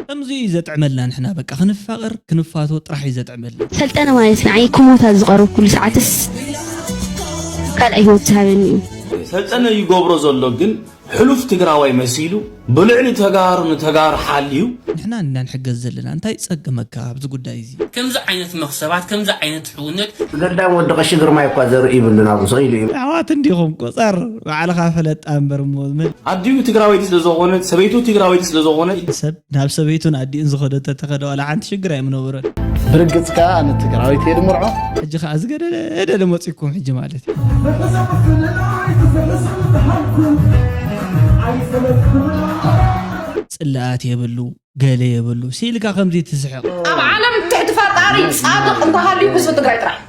ከምዚ እዩ ዘጥዕመልና ንሕና በቃ ክንፋቀር ክንፋቶ ጥራሕ እዩ ዘጥዕመልና። ሰልጠነ ማለት ንዓይ ክሞት ኣብ ዝቐረብኩሉ ሰዓትስ ካልኣይ ሂወት ዝሃበኒ እዩ። ሰልጠነ ይገብሮ ዘሎ ግን ሕሉፍ ትግራዋይ መሲሉ ብልዕሊ ተጋሩ ንተጋሩ ሓልዩ። ንሕና እንዲና ንሕገዝ ዘለና እንታይ ጸገመካ ኣብዚ ጉዳይ እዚ። ከምዚ ዓይነት መኽሰባት ከምዚ ዓይነት ሕውነት። ገዳም ወዲ ቀሺ ግርማይ እኳ ዘርኢ ይብሉን ኣብኡ ስቅ ኢሉ እዩ። ኣሕዋት እንዲኹም ቁጸር ባዕልኻ ፈለጣ እምበር እሞ። ኣዲኡ ትግራወይቲ ስለዘኾነት ሰበይቱ ትግራወይቲ ስለዘኾነት። ሰብ ናብ ሰበይቱን ኣዲኡን ዝኸዶ ተተኸደ ዋላ ሓንቲ ሽግር ኣይምነበሮን። ብርግጽ ከኣ ኣነ ትግራዊት እየ ድምርዖ። ሕጂ ከኣ ዝገደደደደ መጺኩም ሕጂ ማለት ጽላኣት የብሉ ገለ የብሉ ሲልካ ከምዚ ትስሕቕ ኣብ ዓለም ትሕቲ ፈጣሪ ጻድቕ እንተሃልዩ ህዝቢ ትግራይ ጥራሕ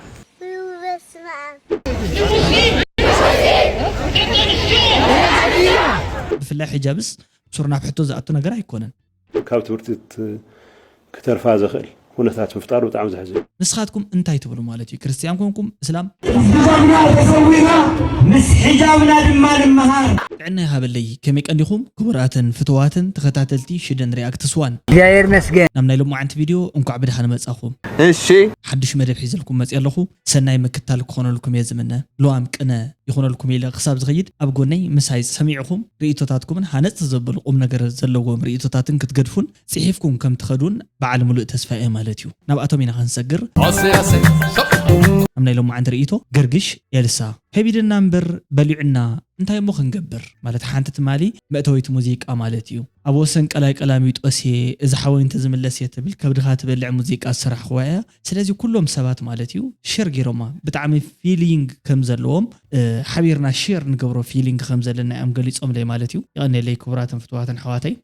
ብፍላይ ሕጃብስ ሱር ናብ ሕቶ ዝኣቱ ነገር ኣይኮነን። ካብ ትምህርቲ ክተርፋ ዘኽእል ኩነታት ምፍጣሩ ብጣዕሚ ዘሕዝን እዩ። ንስኻትኩም እንታይ ትብሉ ማለት እዩ ክርስትያን ኮንኩም እስላም? ምስ ድኻምና ተሰዊእና ምስ ሕጃብና ድማ ንመሃር። ጥዕና ይሃበለይ ከመይ ቀኒኹም ክቡራትን ፍትዋትን ተኸታተልቲ ሽደን ሪኣክትስ ዋን። እግዚኣብሔር ይመስገን። ናብ ናይ ሎማዓንቲ ቪድዮ እንኳዕ ብድሓን መጻኹም። እሺ። ሓዱሽ መደብ ሒዘልኩም መጽየ ኣለኹ። ሰናይ ምክታል ክኾነልኩም እየ ዝምነ። ሉዋም ቅነ ይኹነልኩም ኢለ ክሳብ ዝኸይድ ኣብ ጎነይ ምሳይ ሰሚዕኹም ርእይቶታትኩምን ሃነጽቲ ዘበሉ ቁምነገር ዘለዎም ርእይቶታትን ክትገድፉን ጽሒፍኩም ከም ትኸዱን በዓል ምሉእ ተስፋ እየ ማለት እዩ። ናብኣቶም ኢና ክንሰግር። ኣሰይ ኣሰይ ሸቕ። ኣብ ናይ ሎማዓንቲ ርእይቶ ገርግሽ ኤልሳ። ከቢድና እምበር በሊዑና እንታይ እሞ ክንገብር ማለት ሓንቲ ትማሊ መእተዊት ሙዚቃ ማለት እዩ ኣብ ወሰን ቀላይ ቀላሚጦስ እየ እዚ ሓወይ እንተዝምለስ እየ ትብል ከብድኻ ትበልዕ ሙዚቃ ዝሰራሕኹዋ እያ ስለዚ ኩሎም ሰባት ማለት እዩ ሸር ጌሮማ ብጣዕሚ ፊሊንግ ከም ዘለዎም ሓቢርና ሸር ንገብሮ ፊሊንግ ከም ዘለና እዮም ገሊጾምለይ ማለት እዩ የቀኔለይ ክቡራትን ፍትዋትን ኣሕዋተይ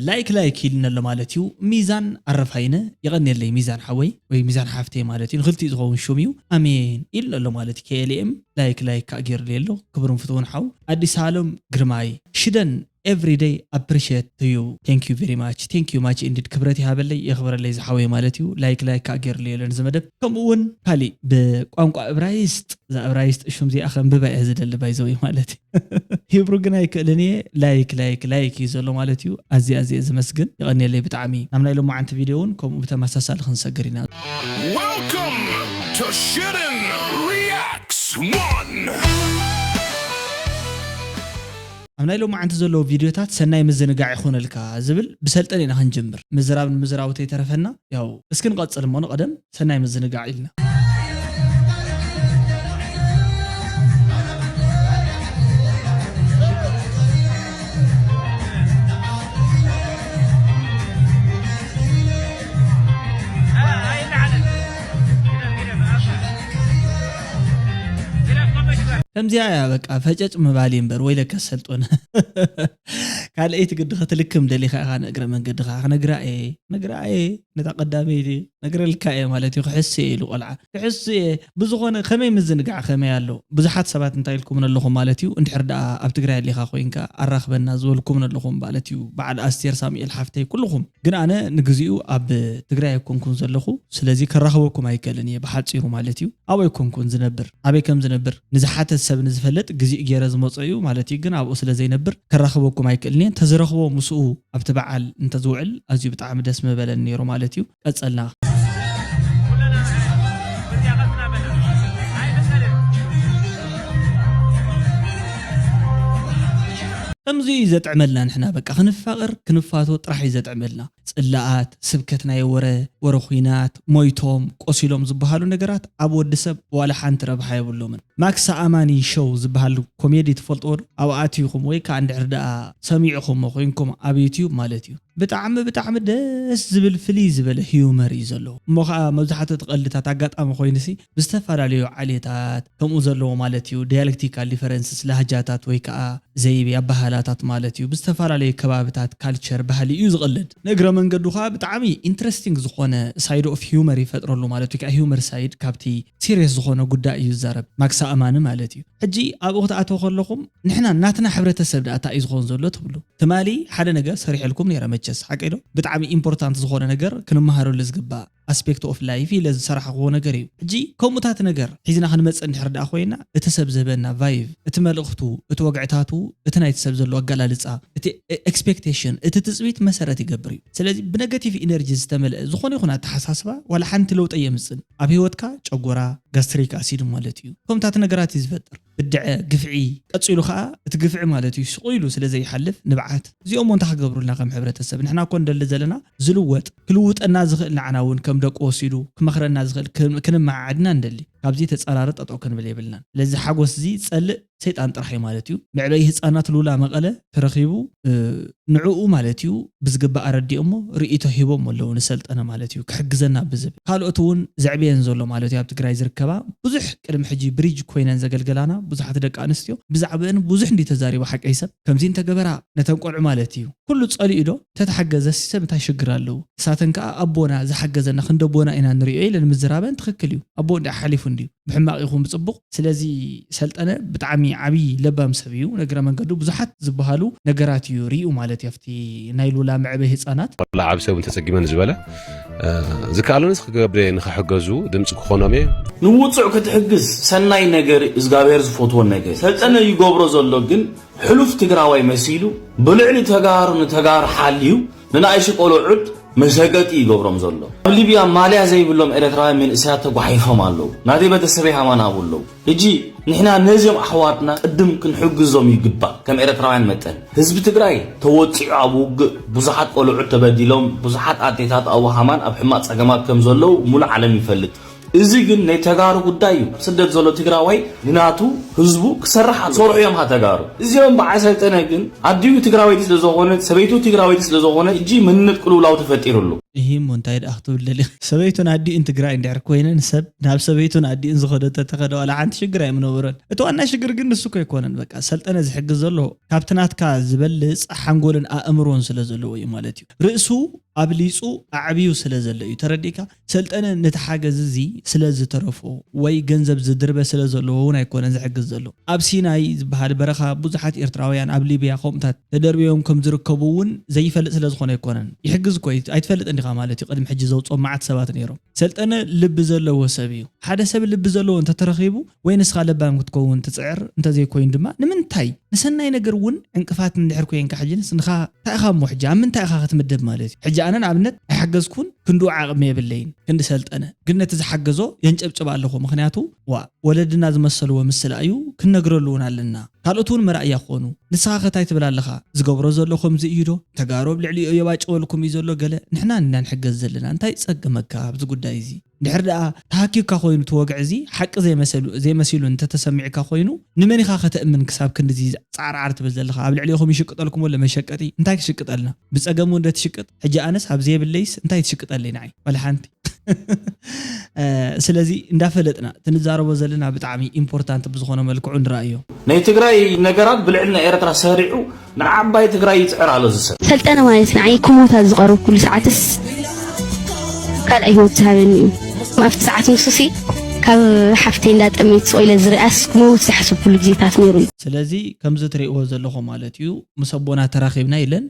ላይክ ላይክ ኢሉኒ ኣሎ ማለት እዩ ሚዛን ኣረፋይነ የቀኔለይ ሚዛን ሓወይ ወይ ሚዛን ሓፍተይ ማለት እዩ ንክልቲኡ ዝከውን ሹም እዩ ኣሜን ኢሉኒ ኣሎ ማለት እዩ KLM ላይክ ላይክ ካኣ ጌሩለይ ኣሎ ክቡርን ፍትውን ሓው ኣዲሳሎም ግርማይ ሽደን ኤቭሪ ደይ ኣፕሪሸት ቱ ዩ። Thank you very much Thank you much indeed ክብረት ይሃበለይ የኽብረለይ ዝሓወይ ማለት እዩ ላይክ ላይክ ካኣ ጌርሉ የለን እዚ መደብ ከምኡ ውን ካሊእ ብቋንቋ እብራይስጥ እዛ እብራይስጥ ሹም እዚኣ ከንብባ እየ ዝደሊ by the way ማለት እዩ ሂብሩ ግን ኣይክእልን እየ ላይክ ላይክ ላይክ እዩ ዘሎ ማለት እዩ ኣዝየ ኣዝየ ዝመስግን የቐንየለይ ብጣዕሚ ናብ ናይ ሎማዓንቲ ቪድዮ ውን ከምኡ ብተመሳሳሊ ክንሰግር ኢና። Welcome to Shirin Reacts One! ኣብ ናይ ሎማዓንቲ ዘለዉ ቪድዮታት ሰናይ ምዝንጋዕ ይኹነልካ ዝብል ብሰልጠን ኢና ክንጅምር ምዝራብ ንምዝራቡ ተይተረፈና ያው እስኪ ንቐጽል እሞ ንቐደም ሰናይ ምዝንጋዕ ኢልና። ከምዚኣ እያ በቃ ፈጨጭ ምባል እምበር ወይለከ ሰልጦነ ካልኣይቲ ግዲ ክትልክም ደሊኻ ኢኻ ንእግረ መንገዲ ከዓ ክነግራ እየ ነግራ እየ ነታ ቀዳመይቲ ነግረልካ እየ ማለት እዩ ክሕሱ እየ ኢሉ ቆልዓ ክሕሱ እየ ብዝኾነ ከመይ ምዝንጋዕ ከመይ ኣሎ ብዙሓት ሰባት እንታይ ኢልኩም ኣለኹም ማለት እዩ እንድሕር ደኣ ኣብ ትግራይ ኣሊኻ ኮይንካ ኣራኽበና ዝበልኩም ኣለኹም ማለት እዩ በዓል ኣስቴር ሳሙኤል ሓፍተይ ኩልኹም ግን ኣነ ንግዚኡ ኣብ ትግራይ ኣይኮንኩን ዘለኹ ስለዚ ከራኽበኩም ኣይክእልን እየ ብሓፂሩ ማለት እዩ ኣብኡ ኣይኮንኩን ዝነብር ኣበይ ከም ዝነብር ንዝሓተት ሰብ ንዝፈለጥ ግዚኡ ገይረ ዝመፆ እዩ ማለት እዩ ግን ኣብኡ ስለ ዘይነብር ከራኽበኩም ኣይክእልን እየ እንተዝረኽቦ ምስኡ ኣብቲ በዓል እንተዝውዕል ኣዝዩ ብጣዕሚ ደስ ምበለን ነይሩ ማለት እዩ ቀፀልና ከምዚ እዩ ዘጥዕመልና ንሕና በቃ ክንፋቀር ክንፋቶ ጥራሕ እዩ ዘጥዕመልና ጽላኣት ስብከት ናይ ወረ ወረ ኩናት ሞይቶም ቆሲሎም ዝባሃሉ ነገራት ኣብ ወዲ ሰብ ዋላ ሓንቲ ረብሓ የብሎምን ማክሳ ኣማኒ ሸው ዝባሃል ኮሜዲ ትፈልጥዎ ዶ ኣብኡ ኣቲኩም ወይ ካኣ እንድሕር ዳኣ ሰሚዕኩሞ ኮይንኩም ኣብ ዩቱብ ማለት እዩ ብጣዕሚ ብጣዕሚ ደስ ዝብል ፍልይ ዝበለ ህዩመር እዩ ዘለዎ እሞ ካኣ መብዛሕቱ እቲ ቀልድታት ኣጋጣሚ ኮይኑሲ ብዝተፈላለዩ ዓሌታት ከምኡ ዘለዎ ማለት እዩ፣ ዲያለክቲካል ዲፈረንስስ፣ ላህጃታት ወይ ከኣ ዘይቤ፣ ኣበሃህላታት ማለት እዩ፣ ብዝተፈላለዩ ከባብታት፣ ካልቸር፣ ባህሊ እዩ ዝቕለድ። ንእግረ መንገዱ ከኣ ብጣዕሚ ኢንትረስቲንግ ዝኾነ ሳይድ ኦፍ ሂዩመር ይፈጥረሉ ማለት ወይ ከኣ ሂዩመር ሳይድ ካብቲ ሲርየስ ዝኾነ ጉዳይ እዩ ዝዛረብ፣ ማክሳ ኣማኒ ማለት እዩ። ሕጂ ኣብኡ ክትኣትዉ ከለኹም ንሕና ናትና ሕብረተሰብ ደኣ ታይ እዩ ዝኾን ዘሎ ትብሉ። ትማሊ ሓደ ነገር ሰሪሐልኩም ነይረ መቸስ፣ ሓቀይዶ? ብጣዕሚ ኢምፖርታንት ዝኾነ ነገር ክንመሃረሉ ዝግባእ። ኣስፔክት ኦፍ ላይፍ ኢለ ዝሰራሕኽዎ ነገር እዩ። ሕጂ ከምኡታት ነገር ሒዝና ክንመጽእ እንድሕር ደኣ ኮይና እቲ ሰብ ዝህበና ቫይቭ፣ እቲ መልእኽቱ፣ እቲ ወግዕታቱ እቲ ናይቲ ሰብ ዘሎ ኣገላልጻ፣ እቲ ኤክስፔክቴሽን፣ እቲ ትጽቢት መሰረት ይገብር እዩ። ስለዚ ብነገቲቭ ኢነርጂ ዝተመልአ ዝኾነ ይኹን ኣተሓሳስባ ዋላ ሓንቲ ለውጢ ኣየምጽእን። ኣብ ህይወትካ ጨጎራ፣ ጋስትሪክ ኣሲድ፣ ማለት እዩ ከምኡታት ነገራት እዩ ዝፈጥር። ብድዐ ግፍዒ ቀጺሉ ከኣ እቲ ግፍዒ ማለት እዩ ስቕ ኢሉ ስለ ዘይሓልፍ ንብዓት እዚኦሞ እንታይ ክገብሩልና ከም ሕብረተሰብ ንሕና እኮ ንደሊ ዘለና ዝልወጥ ክልውጠና ዝኽእል ንዓና እውን ከም ደቁ ወሲዱ ክመኽረና ዝኽእል ክንመዓዓድ ኢና ንደሊ ካብዚ ተጻራሪ ጠጠው ክንብል የብልናን ስለዚ ሓጎስ እዚ ዝጸልእ ሰይጣን ጥራሕ እዩ ማለት እዩ መዕበዪ ህጻናት ሉላ መቐለ ተረኺቡ፣ ንዕኡ ማለት እዩ ብዝግባእ ኣረዲኦሞ ርእይቶ ሂቦሞ ኣለዉ ንሰልጠነ ማለት እዩ ክሕግዘና ብዝብል ካልኦት እውን ዘዕበየን ዘሎ ማለት እዩ ኣብ ትግራይ ዝርከባ ብዙሕ ቅድሚ ሕጂ ብሪጅ ኮይነን ዘገልገላና ብዙሓት ደቂ ኣንስትዮ ብዛዕበእን ብዙሕ እንድዩ ተዛሪቡ ሓቀይ ሰብ ከምዚ እንተገበራ ነተን ቆልዑ ማለት እዩ ኩሉ ጸሊኡ ዶ ተተሓገዘሲ ሰብ እንታይ ሽግር ኣለዎ ንሳተን ከኣ ኣቦና ዝሓገዘና ክንዲ ኣቦና ኢና ንርእዮ ኢለን ምዝራበን ትኽክል እዩ ኣቦ እንድያ ሓሊፉ እንድዩ ብሕማቕ ይኹን ብጽቡቕ ስለዚ ሰልጠነ ብጣዕሚ ዓብይ ለባም ሰብ እዩ ንእግረ መንገዱ ብዙሓት ዝባሃሉ ነገራት እዩ ሪኡ ማለት እዩ ኣብቲ ናይ ሉላ መዕበይ ህፃናት። ዋላ ዓብይ ሰብ እንተፀጊመ ንዝበለ ዝከኣለኒ ክገብርየ ንክሕገዙ ድምፂ ክኾኖም እየ። ንውፁዕ ክትሕግዝ ሰናይ ነገር እዩ እዝጋብሄር ዝፎትዎ ነገር እዩ ሰልጠነ ይገብሮ ዘሎ ግን ሕሉፍ ትግራዋይ መሲሉ ብልዕሊ ተጋሩ ንተጋሩ ሓልዩ ንናኣይሱ ቆሎዑት መሸገጢ ይገብሮም ዘሎ ኣብ ሊብያ ማልያ ዘይብሎም ኤረትራውያን መንእሰያት ተጓሒፎም ኣለው ናተይ በተሰበይ ሃማን ሃቡ ኣለው ህጂ ንሕና ነዝም ኣሕዋትና ቅድም ክንሕግዞም ይግባእ ከም ኤረትራውያን መጠን ህዝቢ ትግራይ ተወጺዑ ኣብ ውግእ ቡዙሓት ቆሎዑት ተበዲሎም ቡዙሓት ኣዴታት ኣቡ ሃማን ኣብ ሕማቅ ጸገማት ከም ዘለው ሙሉእ ዓለም ይፈልጥ እዚ ግን ናይ ተጋሩ ጉዳይ እዩ ስደት ዘሎ ትግራዋይ ንናቱ ህዝቡ ክሰርሕ ኣለዎ ክሰርሑ እዮም ከኣ ተጋሩ እዚኦም በዓል ሰልጠነ ግን ኣዲኡ ትግራወይቲ ስለ ዘኮነት ሰበይቱ ትግራወይቲ ስለ ዘኮነት ሕጂ መንነት ቅልውላው ተፈጢሩ ኣሎ። እሂ እሞ እንታይ ደኣ ክትብል ደሊኺ። ሰበይቱን ኣዲኡን ትግራይ እንድሕር ኮይነን ሰብ ናብ ሰበይቱን ኣዲኡን ዝኸዶ ተተኸደ ዋላ ሓንቲ ሽግር ኣይምነበሮን እቲ ዋና ሽግር ግን ንሱ እኮ ኣይኮነን በቃ ሰልጠነ ዝሕግዝ ዘሎ ካብቲ ናትካ ዝበልፅ ሓንጎልን ኣእምሮን ስለ ዘለዎ እዩ ማለት እዩ ርእሱ ኣብሊፁ ኣዕብዩ ስለ ዘሎ እዩ ተረዲእካ ሰልጠነ ነቲ ሓገዝ እዚ ስለ ዝተረፎ ወይ ገንዘብ ዝድርበ ስለ ዘለዎ ውን ኣይኮነን ዝሕግዝ ዘሎ። ኣብ ሲናይ ዝበሃል በረኻ ብዙሓት ኤርትራውያን ኣብ ሊብያ ከምኡታት ተደርብዮም ከም ዝርከቡ ውን ዘይፈልጥ ስለ ዝኾነ ኣይኮነን። ይሕግዝ እኮ እዩ ኣይትፈልጥን ዲኻ ማለት እዩ ቅድሚ ሕጂ ዘውጽኦም መዓት ሰባት ኔሮም። ሰልጠነ ልቢ ዘለዎ ሰብ እዩ። ሓደ ሰብ ልቢ ዘለዎ እንተተረኺቡ ወይ ንስኻ ለባም ክትከውን ትጽዕር እንተ ዘይኮይኑ ድማ ንምንታይ? ንሰናይ ነገር እውን ዕንቅፋት እንድሕር ኮንካ ሕጂንስ ንኻ እንታይ ኢኻ እሞ ሕጂ ኣብ ምንታይ ኢኻ ክትምደብ ማለት እዩ? ሕጂ ኣነ ንኣብነት ኣይሓገዝኩን ክንድኡ ዓቕሚ የብለይን ክንዲ ሰልጠነ ግን ነቲ ዝሓገዞ የንጨብጭብ ኣለኹ ምኽንያቱ ዋእ ወለድና ዝመሰልዎ ምስላ እዩ ክንነግረሉ እውን ኣለና ካልኦት እውን መርኣያ ክኾኑ ንስኻኸ ታይ ትብል ኣለኻ ዝገብሮ ዘሎ ከምዚ እዩ ዶ ተጋሩ ኣብ ልዕሊኡ የባጭወልኩም እዩ ዘሎ ገለ ንሕና ኢና ንሕገዝ ዘለና እንታይ ይጸግመካ ኣብዚ ጉዳይ እዚ እንድሕር ደኣ ተሃኪዩካ ኮይኑ እቲ ወግዒ እዚ ሓቂ ዘይመሰሉ ዘይመሲሉ እንተተሰሚዑካ ኮይኑ ንመን ኢኻ ከተእምን ክሳብ ክንድዚ ጻዕርዓር ትብል ዘለኻ ኣብ ልዕሌኹም ይሽቅጠልኩም ኣሎ መሸቀጢ እንታይ ክሽቅጠልና ብጸገም ውን ዶ ትሽቅጥ ሕጂ ኣነስ ኣብ ዘየብለይስ እንታይ ትሽቅጠለይ ንዓይ ዋላ ሓንቲ ስለዚ እንዳፈለጥና እቲ ንዛረቦ ዘለና ብጣዕሚ ኢምፖርታንት ብዝኾነ መልክዑ ንርኣዮ። ናይ ትግራይ ነገራት ብልዕሊ ናይ ኤረትራ ሰሪዑ ንዓባይ ትግራይ ይጽዕር ኣሎ እዚ ሰብ። ሰልጠነ ማለት ንዓይ ክሞት ኣብ ዝቐረብኩሉ ሰዓትስ ካልኣይ ሂወት ዝሃበኒ እዩ። ኣብቲ ሰዓት ንሱሲ ካብ ሓፍተይ እንዳ ጠመይት ስቕ ኢለ ዝሪኣስ ክመውት ዝሓሰብኩሉ ግዜታት ነይሩ እዩ። ስለዚ ከምዚ ትሪእዎ ዘለኹም ማለት እዩ ምስ ኣቦና ተራኺብና ኢለን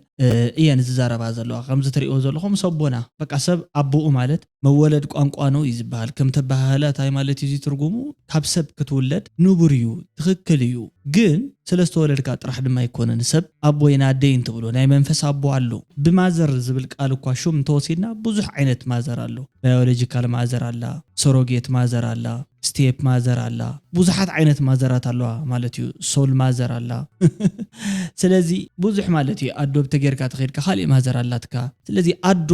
እየን ዝዛረባ ዘለዋ ከምዚ ትሪእዎ ዘለኹም ምስ ኣቦና በቃ ሰብ ኣቡኡ ማለት መወለድ ቋንቋ ነው እዩ ዝበሃል ከም ተበሃህለ ታይ ማለት እዩ እዚ ትርጉሙ ካብ ሰብ ክትውለድ ንቡር እዩ ትኽክል እዩ ግን ስለ ዝተወለድካ ጥራሕ ድማ ኣይኮነን ሰብ ኣቦ ይን ኣደ ይን ትብሎ ናይ መንፈስ ኣቦ ኣሎ ብማዘር ዝብል ቃል እኳ ሹም እንተወሲድና ብዙሕ ዓይነት ማዘር ኣሎ ባዮሎጂካል ማዘር ኣላ ሰሮጌት ማዘር ኣላ ስቴፕ ማዘር ኣላ ብዙሓት ዓይነት ማዘራት ኣለዋ ማለት እዩ ሶል ማዘር ኣላ ስለዚ ብዙሕ ማለት እዩ ኣዶ ብተገይርካ ተኸይድካ ካሊእ ማዘር ኣላትካ ስለዚ ኣዶ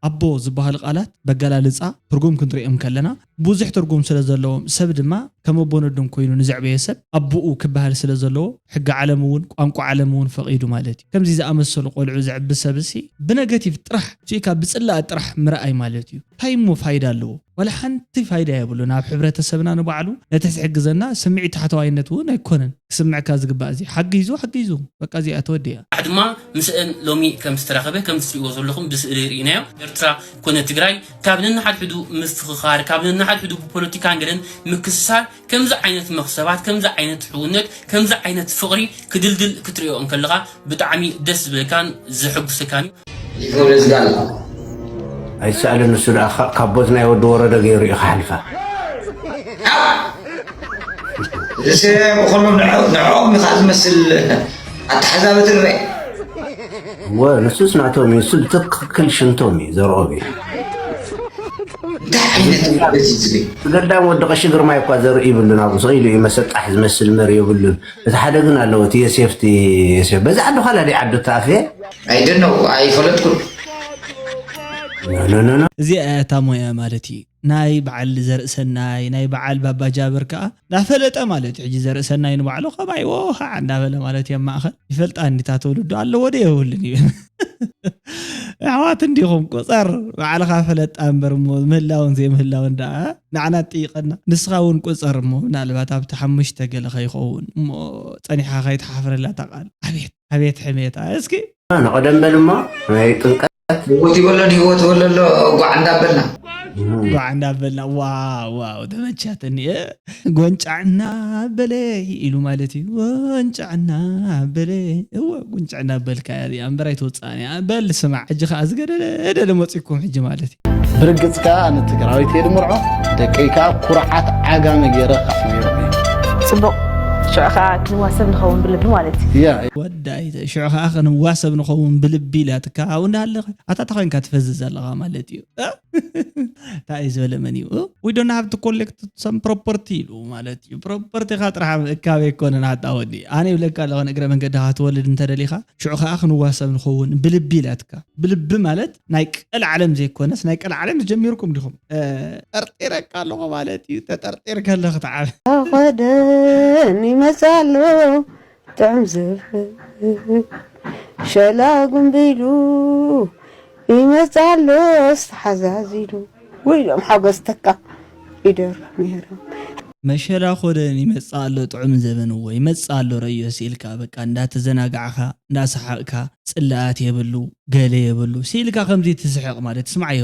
ኣቦ ዝበሃሉ ቃላት በገላልጻ ትርጉም ክንርእዮም ከለና ብዙሕ ትርጉም ስለ ዘለዎም ሰብ ድማ ከም ኣቦነዶም ኮይኑ ንዘዕበዮ ሰብ ኣቡኡ ክበሃል ስለ ዘለዎ ሕጊ ዓለም እውን ቋንቋ ዓለም እውን ፈቂዱ ማለት እዩ። ከምዚ ዝኣመሰሉ ቆልዑ ዘዕቢ ሰብሲ ብነገቲቭ ጥራሕ ርኢካ ብጽላኣት ጥራሕ ምርኣይ ማለት እዩ። ታይ እሞ ፋይዳ ኣለዎ? ዋላ ሓንቲ ፋይዳ የብሉን ኣብ ሕብረተሰብና ንባዕሉ ነቲ ዝሕግዘና ስምዒት ታሕተዋይነት ውን ኣይኮነን ክስምዕካ ዝግባእ እዚ ሓጊዙ ሓጊዙ በቃ እዚኣ ተወዲኣ። ንዓይ ድማ ምስእን ሎሚ ከም ዝተራኸበ ከምቲ ትሪእዎ ዘለኹም ብስእሊ ሪኢናዮ ኤርትራ ኮነ ትግራይ ካብ ነንሓድሕዱ ምፍኽኻር ካብ ነንሓድሕዱ ብፖለቲካን ገለን ምክስሳር ከምዚ ዓይነት መኽሰባት ከምዚ ዓይነት ሕውነት ከምዚ ዓይነት ፍቕሪ ክድልድል ክትርእዮ እንከለኻ ብጣዕሚ ደስ ዝብለካን ዘሕጉሰካን እዩ። ኣይሰኣልን ንሱ ደኣ ካቦት ናይ ወዲ ወረደ ገይሩ እዩ ክሓልፋ። ርእሰ ብኹሉ ንዕኦም ኢኻ ዝመስል ኣተሓዛበ ትርበ ንሱስ ናቶም እዩ ንሱ ብትክክል ሽንቶም እዩ ዘርኦም እዩ እንታይ ዓይነት እዩ እዚ ዝብል ገዳም ወዲ ቀሺ ግርማይ እኳ ዘርኢ ይብሉን ኣብኡ ስቕ ኢሉ እዩ መሰጣሕ ዝመስል መሪ የብሉን እቲ ሓደ ግን ኣለዎ እቲ የሴፍ እቲ የሴፍ በዚ ዓዲ ኋላ ደይ ዓዱ ተኣፍየ ኣይደነው ኣይፈለጥኩን ኖኖኖ እዚኣ እያ እታ ሞያ ማለት እዩ ናይ በዓል ዘርእሰናይ ናይ በዓል ባባ ጃብር ከዓ ናፈለጠ ማለት እዩ ሕጂ ዘርእሰናይ ንባዕሉ ከማይዎ ከዓ እንዳበለ ማለት እዩ ኣብ ማእኸል ይፈልጣ እንዲታ ትውልዱ ኣለዎ ዶ የብሉን ይብል ኣሕዋት እንዲኹም ቁፀር ባዕልኻ ፈለጥ ኣንበር እሞ ምህላውን ዘይምህላውን ደኣ ንዓና ትጥይቀና ንስኻ እውን ቁፀር እሞ ምናልባት ኣብቲ ሓሙሽተ ገለ ከይኸውን እሞ ፀኒሕኻ ከይትሓፍረላ እታ ቃል ኣቤት ኣቤት ሕሜታ እስኪ ንቐደም በል እሞ ናይ ጥምቀት ህይወት ይበሎን ህይወት በለሎ ጓዕ እንዳበልና ጓዕ እንዳበልና ዋው ዋው ተመቻትኒ ጎንጫዕና በለይ ኢሉ ማለት እዩ ጎንጫዕና በለይ እወ ጎንጫዕና በልካ እያ እዚኣ እምበር ኣይትወፅኣን እያ በል ስማዕ ሕጂ ከዓ ዝገደደደለ መፂኩም ሕጂ ማለት እዩ ብርግፅ ከዓ ኣነ ትግራዊት እየ ድምርዖ ደቀይ ከዓ ኩርዓት ዓጋመ ገይረ ካፍልዮም ፅቡቅ ሽዑ ከዓ ክንዋሰብ ንኸውን ብልቢ ማለት እዩ ወዳይ ሽዑ ከዓ ክንዋሰብ ንኸውን ብልቢ ኢላትካ ኣብኡ እንዳሃለኸ ኣታታ ኮይንካ ትፈዝዝ ኣለኻ ማለት እዩ ታኣይ ዝበለ መን እዩ ዊ ዶን ሃቭ ቱ ኮሌክት ሰም ፕሮፐርቲ ኢሉ ማለት እዩ ፕሮፐርቲኻ ጥራሕ ምእካብ ኣይኮነን ኣታ ወዲ ኣነ ይብለካ ኣለኹ ንእግረ መንገድኻ ክትወልድ እንተደሊኻ ሽዑ ከዓ ክንዋሰብ ንኸውን ብልቢ ኢላትካ ብልቢ ማለት ናይ ቀልዓለም ዘይኮነስ ናይ ቀልዓለም ዝጀሚርኩም ዲኹም ጠርጢረካ ኣለኹ ማለት እዩ ተጠርጢር ከለኽ ተዓብ ተኸደን ይመፅእ ኣሎ ጥዑም ዝብኢ ሸላጉም ቢሉ ይመጽእ ኣሎስ ተሓዛዚሉ ውይ ዮም ሓጎስ ተካ ይደርፉ ነይሮም። መሸላ ኮደን ይመጽእ ኣሎ ጥዑም ዘበንዎ ይመጽእ ኣሎ ረዮሲ ኢልካ በቃ እንዳተዘናጋዕካ እንዳሰሓቅካ ጽላኣት የብሉ ገለ የብሉ ሲኢልካ ከምዚ ትስሕቅ ማለት ስምዓዮ።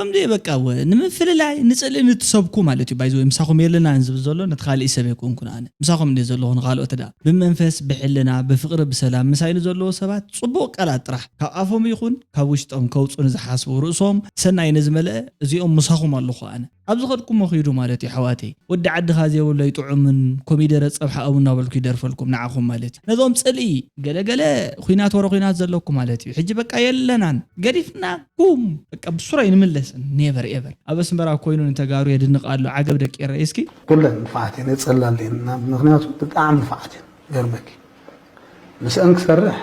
ከምዚ እዩ በቃ ወ ንምፍልላይ ንጽልኢ ንትሰብኩ ማለት እዩ ባይ ዘ ወይ ምሳኹም የለናን ዝብል ዘሎ ነቲ ካልእ ሰብ ኣይኮንኩን ኣነ ምሳኹም እንድየ ዘለኹ ንኻልኦት እዳ ብመንፈስ ብሕልና ብፍቕሪ ብሰላም ምሳይ ንዘለዉ ሰባት ጽቡቕ ቃላት ጥራሕ ካብ ኣፎም ይኹን ካብ ውሽጦም ከውጹ ንዝሓስቡ ርእሶም ሰናይ ንዝመልአ እዚኦም ምሳኹም ኣለኹ ኣነ ኣብ ዝኸድኩሞ ኺዱ ማለት እዩ ኣሕዋተይ ወዲ ዓድኻ ዘይብሉ ኣይጥዑምን ኮሚደረ ጸብሒ ኣብኡ እናበልኩ ይደርፈልኩም ንዓኹም ማለት እዩ ነዞም ጽልኢ ገለ ገለ ኹናት ወረ ኹናት ዘለኩም ማለት እዩ ሕጂ በቃ የለናን ገዲፍናኩም በቃ ብሱሩ ኣይንምለስን ኔቨር ኤቨር ኣብ ኣስመራ ኮይኑ ንተጋሩ የድንቅ ኣሎ ዓገብ ደቂ ኤረይ እስኪ ኩለን ንፋዓት እየን የጸላልየን ምክንያቱ ብጣዕሚ ንፋዓት እየን ክገርመኪ ምስኣን ክሰርሕ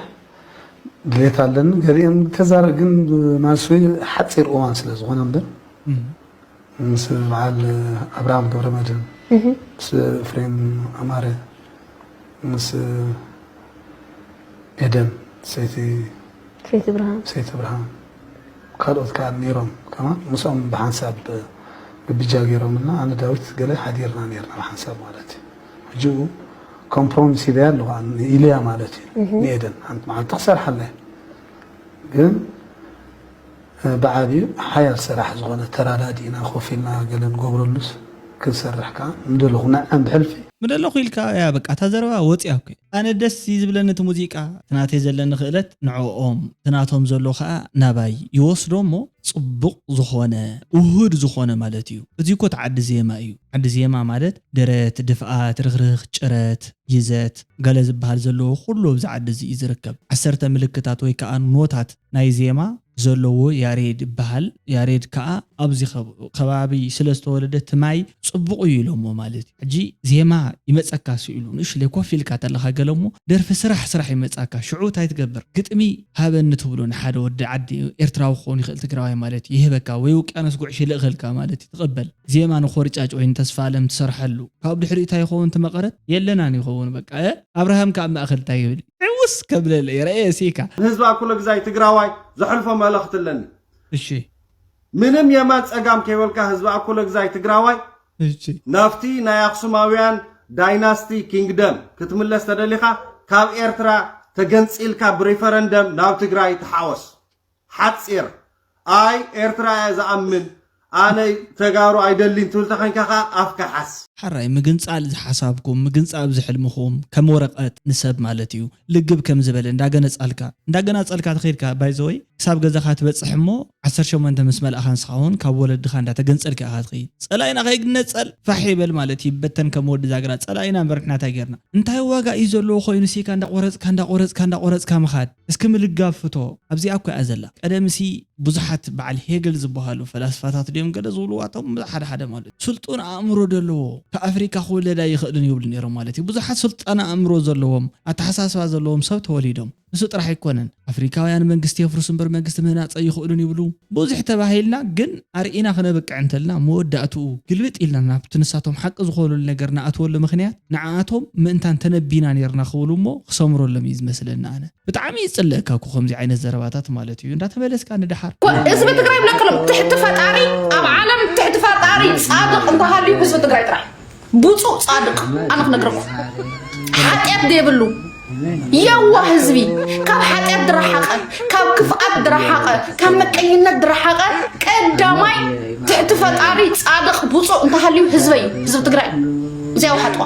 ድሌት ኣለኒ ገሊኤን ተዛረ ግን ብማልሲ ሓፂር እዋን ስለ ዝኾነ እምበር ምስ በዓል ኣብርሃም ገብረመድህን ምስ ፍሬም ኣማረ ምስ ኤደን ሰይቲ ሰይቲ ብርሃን ሰይቲ ብርሃን ካልኦት ከዓ ነይሮም ከማ ምስኦም ብሓንሳብ ግብጃ ገይሮምና ኣነ ዳዊት ገለ ሓዲርና ነርና ብሓንሳብ ማለት እዩ ሕጂ ኮምፕሮሚስ ሂበያ ኣለኹ ኣነ ንኢልያ ማለት እዩ እህ ንኤደን ሓንቲ መዓልቲ ክሰርሓላ እየ ግን እ፣ ብዓብዩ ሓያል ስራሕ ዝኾነ ተራዳዲእና ኮፍ ኢልና ገለ ንገብረሉስ ክንሰርሕ ከዓ ምደለኹ ንዐም ብሕልፊ ምደለኹ ኢልካ እያ በቃ እታ ዘረባ ወጺኣ እኮ ኣነ ደስ እዩ ዝብለኒ እቲ ሙዚቃ እቲ ናተይ ዘለኒ ክእለት ንዕኦም እቲ ናቶም ዘሎ ከኣ ናባይ ይወስዶ እሞ ጽቡቅ ዝኾነ ውሁድ ዝኾነ ማለት እዩ እዚ እኮ እቲ ዓዲ ዜማ እዩ ዓዲ ዜማ ማለት ደረት፣ ድፍኣት፣ ርኽርኽ፣ ጭረት፣ ይዘት፣ ገለ ዝበሃል ዘለዎ ኩሉ ኣብዚ ዓዲ እዚ እዩ ዝርከብ። ዓሰርተ ምልክታት ወይ ከኣ ኖታት ናይ ዜማ ዘለዎ ያሬድ ይበሃል። ያሬድ ከኣ ኣብዚ ከባቢ ስለ ዝተወለደ ትማይ ጽቡቕ እዩ ኢሎሞ ማለት እዩ። ሕጂ ዜማ ይመጸካ ስኢሉ ንእሽለይ ኮፍ ኢልካ ተለኻ ገለ እሞ ደርፊ ስራሕ ስራሕ ይመጻካ ሽዑ እንታይ ትገብር ግጥሚ ሃበኒ ትብሎ ንሓደ ወዲ ዓዲ ኤርትራዊ ክኸውን ይኽእል ትግራዋይ ማለት እዩ ይህበካ ወይ ውቅያኖስ ጉዕሽ ይልእኸልካ ማለት እዩ ትቕበል ዜማ ንኮርጫጭ ወይ ንተስፋኣለም ትሰርሐሉ ካብኡ ድሕሪኡ ታይ ይኸውን እቲ መቀረት የለናን ይኸውን በቃ እ ኣብርሃም ከ ኣብ ማእከል ታይ ይብል ዕውስ ከብለለ እየ ረኤ ሲካ። ንህዝቢ ኣኩለግዛይ ትግራዋይ ዘሕልፎ መልኽቲ ኣለኒ እሺ። ምንም የማን ጸጋም ከይበልካ ህዝቢ ኣኩለግዛይ ትግራዋይ እሺ። ናብቲ ናይ ኣኽሱማውያን ዳይናስቲ ኪንግደም ክትምለስ ተደሊኻ ካብ ኤርትራ ተገንጺልካ ብሪፈረንደም ናብ ትግራይ ተሓወስ። ሓጺር ኣይ ኤርትራ እያ ዝኣምን ኣነ ተጋሩ ኣይደሊን ትብል ተኮንካ ከኣ ኣፍካ ሓዝ። ሐራይ ምግንጻል ዝሓሳብኩም ምግንጻብ ዝሕልምኹም ከም ወረቀት ንሰብ ማለት እዩ ልግብ ከም ዝበለ እንዳገነጻልካ እንዳገናጸልካ ተኸድካ ባይ ዘ ወይ ክሳብ ገዛኻ ትበጽሕ እሞ ዓሰርተ ሸሞንተ ምስ መልኣኻ ንስኻ ውን ካብ ወለድኻ እንዳተገንጸልካ ኢኻ ትኸይድ ጸላኢና ከይግነጸል ፋሕ ይበል ማለት ይበተን ከም ወዲ ዛግራ ጸላኢና እምበር ንሕና ታይ ጌርና እንታይ ዋጋ እዩ ዘለዎ ኮይኑ ሲካ እንዳቆረጽካ እንዳቆረጽካ እንዳቆረጽካ ምኻድ እስኪ ምልጋብ ፍቶ ኣብዚኣ እኮ እያ ዘላ ቀደምሲ ብዙሓት በዓል ሄግል ዝብሃሉ ፈላስፋታት ድዮም ገለ ዝብልዋ እቶም ሓደ ሓደ ማለት እዩ ስልጡን ኣእምሮ ደለዎ ካብ ኣፍሪካ ክውለድ ኣይኽእልን ይብሉ ነይሮም ማለት እዩ ብዙሓት ስልጣን ኣእምሮ ዘለዎም ኣተሓሳስባ ዘለዎም ሰብ ተወሊዶም ንሱ ጥራሕ ኣይኮነን ኣፍሪካውያን መንግስቲ የፍርሱ እምበር መንግስቲ ምህናፀ ኣይኽእሉን ይብሉ ብዙሕ ተባሂልና ግን ኣርኢና ክነብቅዕ እንተልና መወዳእትኡ ግልብጥ ኢልና ናብቲ ንሳቶም ሓቂ ዝኾኑሉ ነገር ንኣትወሉ ምኽንያት ንዓኣቶም ምእንታን ተነቢና ኔርና ክብሉ እሞ ክሰምረሎም እዩ ዝመስለኒ ኣነ ብጣዕሚ እዩ ዝጽለእካ እኮ ከምዚ ዓይነት ዘረባታት ማለት እዩ እንዳተመለስካ ንደሓር ህዝቢ ትግራይ ብነቅሎም ትሕቲ ፈጣሪ ኣብ ዓለም ትሕቲ ፈጣሪ ፃድቅ እንተሃልዩ ህዝቢ ትግራይ ጥራሕ እዩ። ብፁእ ፃድቅ ኣነ ክነግረኩም ሓጢኣት ዘይብሉ የዋህ ህዝቢ ካብ ሓጢኣት ድረሓቐ ካብ ክፍኣት ድረሓቐ ካብ መቀኝነት ድረሓቐ ቀዳማይ ትሕቲ ፈጣሪ ፃድቅ ብፁእ እንተሃልዩ ህዝበይ እዩ ህዝቢ ትግራይ እዚኣ ውሓጥዋ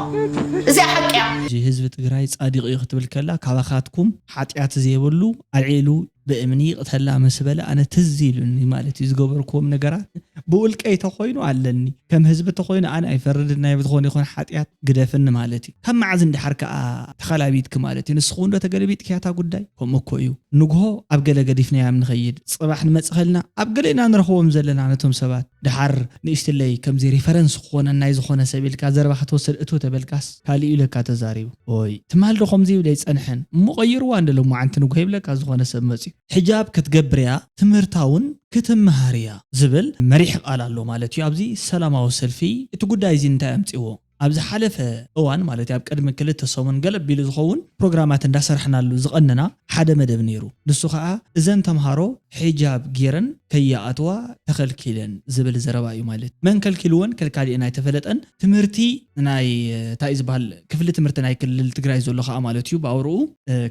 እዚኣ ሓቂ እያ እዚ ህዝቢ ትግራይ ፃዲቅ እዩ ክትብል ከላ ካባካትኩም ሓጢኣት ዘይብሉ ኣልዒሉ ብእምኒ ይቕተላ ምስ በለ ኣነ ትዝ ኢሉኒ ማለት እዩ ዝገበርክዎም ነገራት ብውልቀይ ተኾይኑ ኣለኒ ከም ህዝቢ ተኾይኑ ኣነ ኣይፈርድን ናይ ዝኾነ ይኹን ሓጥያት ግደፍኒ ማለት እዩ ካብ መዓዝ ንደሓር ከኣ ተኸላቢትኪ ማለት እዩ ንስኺ ውን ዶ ተገለቢጥክያ እታ ጉዳይ ከምኡ እኮ እዩ ንግሆ ኣብ ገለ ገዲፍናያም ንኸይድ ጽባሕ ንመጽኸልና ኣብ ገለ ኢና ንረኽቦም ዘለና ነቶም ሰባት ደሓር ንእሽትለይ ከምዚ ሪፈረንስ ክኾነን ናይ ዝኾነ ሰብ ኢልካ ዘረባ ከተወስድ እትው ተበልካስ ካልእዩ ለካ ተዛሪቡ ኦይ ትማል ዶ ከምዚ ይብል ኣይጸንሐን እሞ ቀይርዋ እንደ ሎማዓንቲ ንጉሆ ይብለካ ዝኮነ ሰብ መጽዩ። ሕጃብ ክትገብር እያ ትምህርታውን ክትመሃር እያ ዝብል መሪሕ ቃል ኣሎ ማለት እዩ ኣብዚ ሰላማዊ ሰልፊ እቲ ጉዳይ እዚ እንታይ ኣምጺዎ ኣብ ዝሓለፈ እዋን ማለት ኣብ ቅድሚ ክልተ ሰሙን ገለ ኣቢሉ ዝኸውን ፕሮግራማት እንዳሰራሕናሉ ዝቐነና ሓደ መደብ ኔሩ ንሱ ከኣ እዘን ተምሃሮ ሕጃብ ጌረን ከይኣትዋ ተኸልኪለን ዝብል ዘረባ እዩ ማለት መን ከልኪልወን ከልካሊኤን ኣይተፈለጠን ትምህርቲ ናይ ታይእዩ ዝባሃል ክፍሊ ትምህርቲ ናይ ክልል ትግራይ ዘሎ ካኣ ማለት እዩ ብኣውርኡ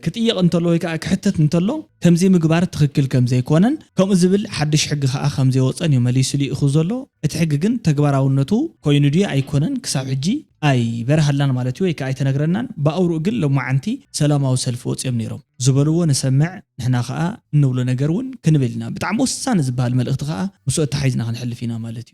ክጥየቕ እንተሎ ወይ ካኣ ክሕተት እንተሎ ከምዚ ምግባር ትኽክል ከምዘይኮነን ከምኡ ዝብል ሓዱሽ ሕጊ ካኣ ከምዘይወጸን እዩ መሊሱ ሊኢኹ ዘሎ እቲ ሕጊ ግን ተግባራውነቱ ኮይኑ ድዩ ኣይኮነን ክሳብ ሕጂ ኣይበረሃልናን ማለት እዩ ወይ ካኣ ኣይተነግረናን ብኣውርኡ ግን ሎማዓንቲ ሰላማዊ ሰልፊ ወጽዮም ነይሮም ዝበልዎ ንሰምዕ ንሕና ካኣ እንብሎ ነገር ውን ክንብል ኢና ብጣዕሚ ወሳኒ ዝባሃል መልእኽቲ ካኣ ምስኡ ኣታሓሒዝና ክንሕልፍ ኢና ማለት እዩ።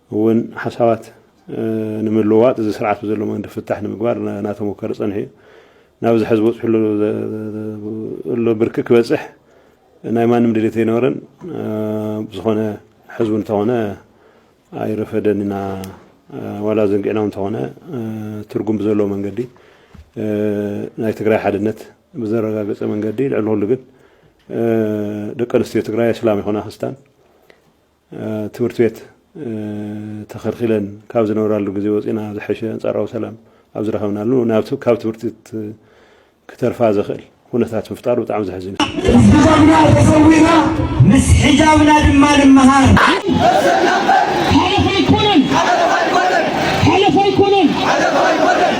እውን ሓሳባት ንምልውዋጥ እዚ ስርዓት ብዘሎ መንገዲ ፍታሕ ንምግባር እናተሞከረ ፀኒሑ እዩ። ናብዚ ሐዚ በፂሑሉ ዘሎ ብርኪ ክበፅሕ ናይ ማንም ድሌት ኣይነበረን። ብዝኾነ ሐዚ እውን እንተኾነ ኣይረፈደን ኢና ዋላ ዘንጊዕና እውን እንተኾነ ትርጉም ብዘለዎ መንገዲ ናይ ትግራይ ሓድነት ብዘረጋገፀ መንገዲ ልዕሊ ኩሉ ግን ደቂ ኣንስትዮ ትግራይ ኣስላም ይኹና ክርስታን ትምህርቲ ቤት ተኸልኪለን ካብ ዝነብራሉ ግዜ ወፂና ዝሐሸ ኣንፃራዊ ሰላም ኣብ ዝረኸብናሉ ናብቲ ካብ ትምህርቲ ቤት ክተርፋ ዘኽእል ኩነታት ምፍጣሩ ብጣዕሚ ዘሕዝን እዩ። ምስ ሕጃብና ተሰዊና ምስ ሕጃብና ድማ ንመሃር።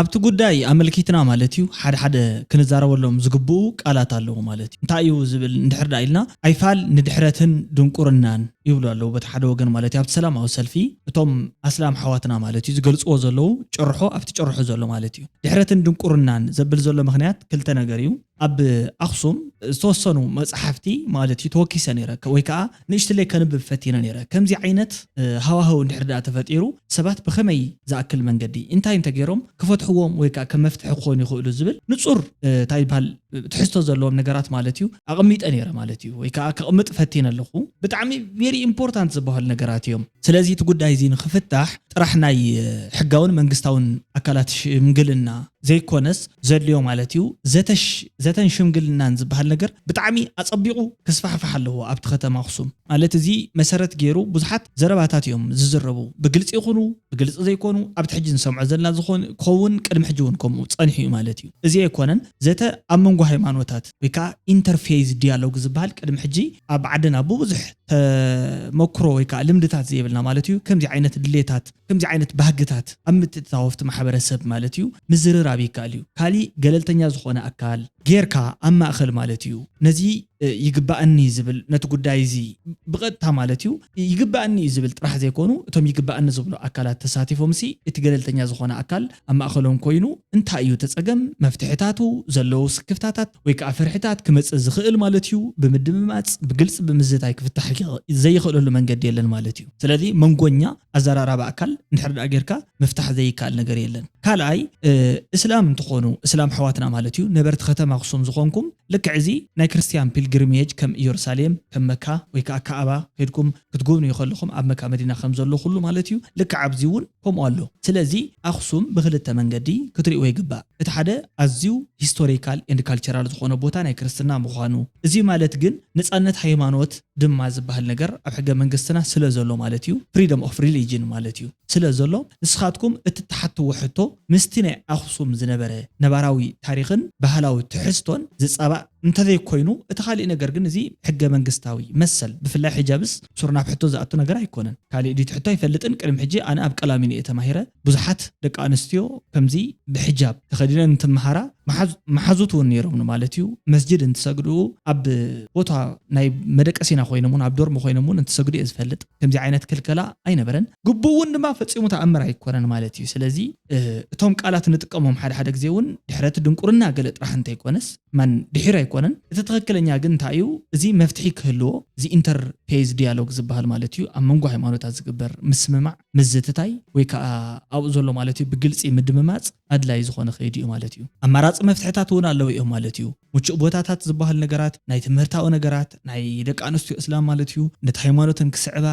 ኣብቲ ጉዳይ ኣመልኪትና ማለት እዩ ሓደ ሓደ ክንዛረበሎም ዝግብኡ ቃላት ኣለዉ ማለት እዩ። እንታይ እዩ ዝብል እንድሕር ደኣ ኢልና ኣይፋል ንድሕረትን ድንቁርናን ይብሉ ኣለዉ በቲ ሓደ ወገን ማለት እዩ። ኣብቲ ሰላማዊ ሰልፊ እቶም ኣስላም ኣሕዋትና ማለት እዩ ዝገልጽዎ ዘለዉ ጭርሖ ኣብቲ ጭርሖ ዘሎ ማለት እዩ ድሕረትን ድንቁርናን ዘብል ዘሎ ምኽንያት ክልተ ነገር እዩ። ኣብ ኣኽሱም ዝተወሰኑ መጻሕፍቲ ማለት እዩ ተወኪሰ ነይረ ወይ ከኣ ንእሽትለይ ከንብብ ፈቲነ ነይረ። ከምዚ ዓይነት ሃዋህው እንድሕሪ ደኣ ተፈጢሩ ሰባት ብኸመይ ዝኣክል መንገዲ እንታይ እንተ ገይሮም ክፈትሕዎም ወይ ከኣ ከም መፍትሒ ክኾኑ ይኽእሉ ዝብል ንጹር እንታይ ይብሃል ትሕዝቶ ዘለዎም ነገራት ማለት እዩ ኣቐሚጠ ነይረ ማለት እዩ ወይ ከኣ ከቕምጥ ፈቲነ ኣለኹ። ብጣዕሚ very important ዝበሃሉ ነገራት እዮም። ስለዚ እቲ ጉዳይ እዚ ንኽፍታሕ ጥራሕ ናይ ሕጋውን መንግስታውን ኣካላት ሽምግልና ዘይኮነስ ዘድልዮ ማለት እዩ። ዘተሽ ዘተን ሽምግልናን ዝበሃል ነገር ብጣዕሚ ኣጸቢቑ ክስፋሕፋሕ ኣለዎ ኣብቲ ከተማ ኣኽሱም። ማለት እዚ መሰረት ገይሩ ብዙሓት ዘረባታት እዮም ዝዝረቡ። ብግልጺ ይኹኑ ብግልጺ ዘይኮኑ ኣብቲ ሕጂ ንሰምዖ ዘለና ዝኾን ክኸውን ቅድሚ ሕጂ እውን ከምኡ ጸኒሑ እዩ ማለት እዩ። እዚ ኣይኮነን ዘተ ኣብ መንጎ ሃይማኖታት ወይ ከኣ ኢንተርፌይዝ ዲያሎግ ዝበሃል ቅድሚ ሕጂ ኣብ ዓድና ብብዙሕ ተመኩሮ ወይ ከኣ ልምድታት ዘየብልና ማለት እዩ፣ ከምዚ ዓይነት ድሌታት፣ ከምዚ ዓይነት ባህግታት ኣብ ምትእትታው ኣፍቲ ማሕበረሰብ ማለት እዩ ምዝርራብ ይከኣል እዩ፣ ካሊእ ገለልተኛ ዝኾነ ኣካል ጌርካ ኣብ ማእኸል ማለት እዩ ነዚ ይግበኣኒ ዝብል ነቲ ጉዳይ እዚ ብቐጥታ ማለት እዩ ይግበኣኒ እዩ ዝብል ጥራሕ ዘይኮኑ እቶም ይግበኣኒ ዝብሉ ኣካላት ተሳቲፎምሲ እቲ ገለልተኛ ዝኾነ ኣካል ኣብ ማእኸሎም ኮይኑ እንታይ እዩ እቲ ፀገም፣ መፍትሕታቱ፣ ዘለዉ ስክፍታታት፣ ወይ ከኣ ፍርሕታት ክመጽእ ዝኽእል ማለት እዩ። ብምድምማጽ ብግልጺ ብምዝታይ ክፍታሕ ዘይኽእለሉ መንገዲ የለን ማለት እዩ። ስለዚ መንጎኛ ኣዘራራባ ኣካል እንድሕር ደኣ ጌርካ ምፍታሕ ዘይከኣል ነገር የለን። ካልኣይ እስላም እንትኾኑ እስላም ኣሕዋትና ማለት እዩ ነበርቲ ከተማ ኣኽሱም ዝኾንኩም ልክዕ እዚ ናይ ክርስትያን ፒልግሪሜጅ ከም እየሩሳሌም ከም መካ ወይ ከኣ ካዕባ ከይድኩም ክትጉብንዩ ከለኹም ኣብ መካ መዲና ከም ዘሎ ኩሉ ማለት እዩ ልክዕ ኣብዚ እውን ከምኡ ኣሎ ስለዚ ኣክሱም ብክልተ መንገዲ ክትሪእዎ ይግባእ እቲ ሓደ ኣዝዩ ሂስቶሪካል ኤንድ ካልቸራል ዝኮነ ቦታ ናይ ክርስትና ምኳኑ እዚ ማለት ግን ነጻነት ሃይማኖት ድማ ዝባሃል ነገር ኣብ ሕገ መንግስትና ስለ ዘሎ ማለት እዩ ፍሪደም ኦፍ ሪሊጅን ማለት እዩ ስለ ዘሎ ንስካትኩም እትትሓትዎ ሕቶ ምስቲ ናይ ኣክሱም ዝነበረ ነባራዊ ታሪክን ባህላዊ ትሕዝቶን ዝጻባእ እንተዘይኮይኑ እቲ ካሊእ ነገር ግን እዚ ሕገ መንግስታዊ መሰል ብፍላይ ሕጃብስ ሱር ናብ ሕቶ ዝኣቱ ነገር ኣይኮነን ካሊእ ድዩ እቲ ሕቶ ኣይፈልጥን ቅድሚ ሕጂ ኣነ ኣብ ቀላሚኖ እየ ተማሂረ ብዙሓት ደቂ ኣንስትዮ ከምዚ ብሕጃብ ተኸዲነን እንትመሃራ መሓዙት እውን ነይሮም ንማለት እዩ መስጅድ እንትሰግዱ ኣብ ቦታ ናይ መደቀሲና ኮይኖም እውን ኣብ ዶርም ኮይኖም እውን እንትሰግዱ እየ ዝፈልጥ ከምዚ ዓይነት ክልከላ ኣይነበረን ግቡእ እውን ድማ ፈፂሙ ተኣምር ኣይኮነን ማለት እዩ ስለዚ እቶም ቃላት ንጥቀሞም ሓደ ሓደ ግዜ እውን ድሕረት ድንቁርና ገለ ጥራሕ እንተይኮነስ መን ድሒር ኣይኮነን እቲ ትኽክለኛ ግን እንታይ እዩ እዚ መፍትሒ ክህልዎ እዚ ኢንተር ፌዝ ዲያሎግ ዝብሃል ማለት እዩ ኣብ መንጎ ሃይማኖታት ዝግበር ምስምማዕ ምዝትታይ ወይ ከዓ ኣብኡ ዘሎ ማለት እዩ ብግልፂ ምድምማፅ ኣድላይ ዝኾነ ከይዲ እዩ ማለት እዩ ኣማራፂ መፍትሕታት እውን ኣለዉ እዮም ማለት እዩ ምቹእ ቦታታት ዝብሃሉ ነገራት ናይ ትምህርታዊ ነገራት ናይ ደቂ ኣንስትዮ እስላም ማለት እዩ፣ ነቲ ሃይማኖተን ክስዕባ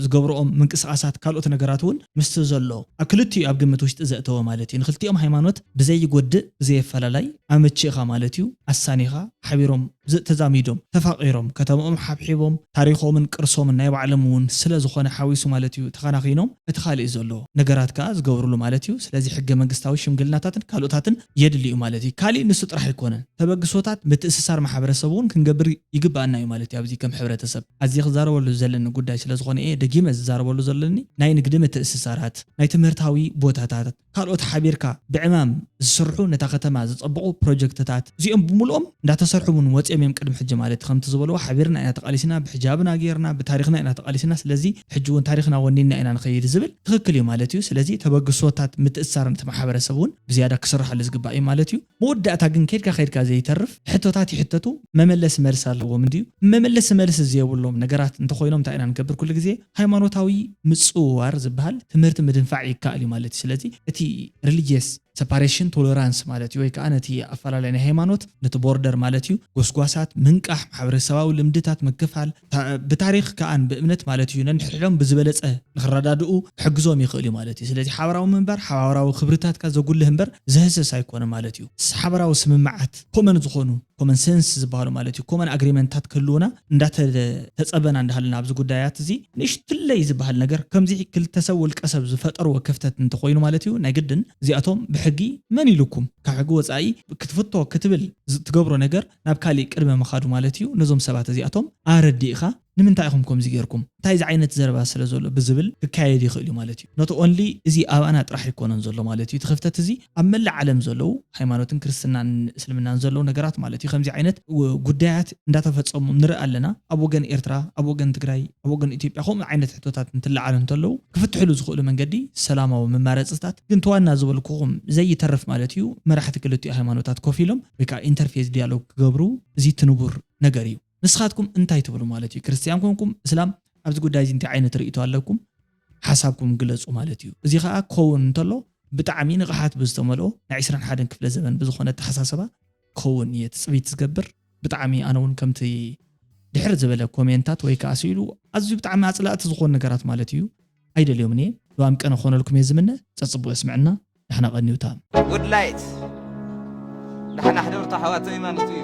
ዝገብርኦም ምንቅስቓሳት ካልኦት ነገራት እውን ምስቲ ዘሎ ኣብ ክልቲኡ ኣብ ግምት ውሽጢ ዘእተወ ማለት እዩ። ንክልቲኦም ሃይማኖት ብዘይጎድእ ብዘየፈላላይ ኣመቺእኻ ማለት እዩ ኣሳኒኻ ሓቢሮም ተዛሚዶም ተፋቒሮም ከተምኦም ሓብሒቦም ታሪኾምን ቅርሶምን ናይ ባዕሎም እውን ስለ ዝኾነ ሓዊሱ ማለት እዩ ተኸናኺኖም እቲ ካሊእ ዘሎ ነገራት ከኣ ዝገብርሉ ማለት እዩ። ስለዚ ሕገ መንግስታዊ ሽምግልናታትን ካልኦታትን የድሊ እዩ ማለት እዩ። ካሊእ ንሱ ጥራሕ ኣይኮነን ተበግሶታት ምትእስሳር ማሕበረሰብ እውን ክንገብር ይግበኣና እዩ ማለት እዩ። ኣብዚ ከም ሕብረተሰብ ኣዝየ ክዛረበሉ ዝደለኒ ጉዳይ ስለ ዝኾነ እየ ደጊመ ዝዛረበሉ ዘለኒ ናይ ንግዲ ምትእስሳራት፣ ናይ ትምህርታዊ ቦታታት ካልኦት ሓቢርካ ብዕማም ዝስርሑ ነታ ከተማ ዘፀብቑ ፕሮጀክትታት እዚኦም ብምሉኦም እንዳተሰርሑ እውን ወፂኦም እዮም ቅድሚ ሕጂ ማለት እዩ። ከምቲ ዝበልዎ ሓቢርና ኢና ተቓሊስና ብሕጃብና ገይርና ብታሪኽና ኢና ተቓሊስና ስለዚ ሕጂ እውን ታሪኽና ወኒንና ኢና ንኸይድ ዝብል ትኽክል እዩ ማለት እዩ። ስለዚ ተበግሶታት ምትእስሳርን እቲ ማሕበረሰብ እውን ብዝያዳ ክስርሓሉ ዝግባእ እዩ ማለት እዩ። መወዳእታ ግን ከድካ ከድካ ዘይተርፍ ሕቶታት ይሕተቱ መመለሲ መልሲ ኣለዎም እንድዩ። መመለሲ መልሲ ዘየብሎም ነገራት እንተኾይኖም እንታይ ኢና ንገብር ኩሉ ግዜ ሃይማኖታዊ ምጽውዋር ዝብሃል ትምህርቲ ምድንፋዕ ይከኣል እዩ ማለት እዩ። ስለዚ እቲ ሪሊጅየስ ሰፓሬሽን ቶለራንስ ማለት እዩ ወይ ከኣ ነቲ ኣፈላላይ ናይ ሃይማኖት ነቲ ቦርደር ማለት እዩ ጎስጓሳት ምንቃሕ ማሕበረሰባዊ ልምድታት ምክፋል ብታሪኽ ከኣ ብእምነት ማለት እዩ፣ ነንሕድሕዶም ብዝበለጸ ንኽረዳድኡ ክሕግዞም ይኽእል እዩ ማለት እዩ። ስለዚ ሓባራዊ ምንባር ሓባራዊ ክብርታትካ ዘጉልህ እምበር ዘህሰስ ኣይኮነን ማለት እዩ። ሓባራዊ ስምምዓት፣ ኮመን ዝኾኑ፣ ኮመን ሰንስ ዝበሃሉ ማለት እዩ፣ ኮመን ኣግሪመንትታት ክህልዉና እንዳተጸበና እንዳሃለና ኣብዚ ጉዳያት እዚ ንእሽትለይ ዝበሃል ነገር ከምዚ ክልተ ሰብ ውልቀ ሰብ ዝፈጠርዎ ክፍተት እንተኾይኑ ማለት እዩ ናይ ግድን እዚኣቶም ብሕጊ መን ኢሉኩም ካብ ሕጊ ወጻኢ ክትፍቶ ክትብል ትገብሮ ነገር ናብ ካሊእ ቅድመ ምኻዱ ማለት እዩ ነዞም ሰባት እዚኣቶም ኣረዲእኻ ንምንታይ ኢኹም ከምዚ ጌርኩም እንታይ ዝዓይነት ዘረባ ስለ ዘሎ ብዝብል ክካየድ ይኽእል እዩ ማለት እዩ ኖት ኦንሊ እዚ ኣብኣና ጥራሕ ኣይኮነን ዘሎ ማለት እዩ እቲ ክፍተት እዚ ኣብ መላእ ዓለም ዘለዉ ሃይማኖትን ክርስትናን እስልምናን ዘለዉ ነገራት ማለት እዩ ከምዚ ዓይነት ጉዳያት እንዳተፈፀሙ ንርኢ ኣለና ኣብ ወገን ኤርትራ ኣብ ወገን ትግራይ ኣብ ወገን ኢትዮጵያ ከምኡ ዓይነት ሕቶታት እንትለዓሉ እንተለዉ ክፍትሕሉ ዝኽእሉ መንገዲ ሰላማዊ መማረፅታት ግን ተዋና ዝበልኩኹም ዘይተርፍ ማለት እዩ መራሕቲ ክልቲኡ ሃይማኖታት ኮፍ ኢሎም ወይ ከኣ ኢንተርፌዝ ዲያሎግ ክገብሩ እዚ እቲ ንቡር ነገር እዩ። ንስኻትኩም እንታይ ትብሉ ማለት እዩ? ክርስትያን ኮንኩም እስላም ኣብዚ ጉዳይ እዚ እንታይ ዓይነት ርእይቶ ኣለኩም? ሓሳብኩም ግለጹ ማለት እዩ። እዚ ከኣ ክኸውን እንተሎ ብጣዕሚ ንቕሓት ብዝተመልኦ ናይ ዕስራን ሓደን ክፍለ ዘበን ብዝኾነ ኣተሓሳሰባ ክኸውን እየ ትጽቢት ዝገብር። ብጣዕሚ ኣነ ውን ከምቲ ድሕር ዝበለ ኮሜንታት ወይ ከኣ ስኢሉ ኣዝዩ ብጣዕሚ ኣጽላእቲ ዝኾኑ ነገራት ማለት እዩ ኣይደልዮምን እየ። ዶ ኣምቀነ ክኾነልኩም እየ ዝምነ። ጸጽቡቕ የስመዐና። ዳሕና ቀኒውታ። Good light ዳሕና ኣሕደርቶ ኣሕዋተይ ማለቱ እዩ።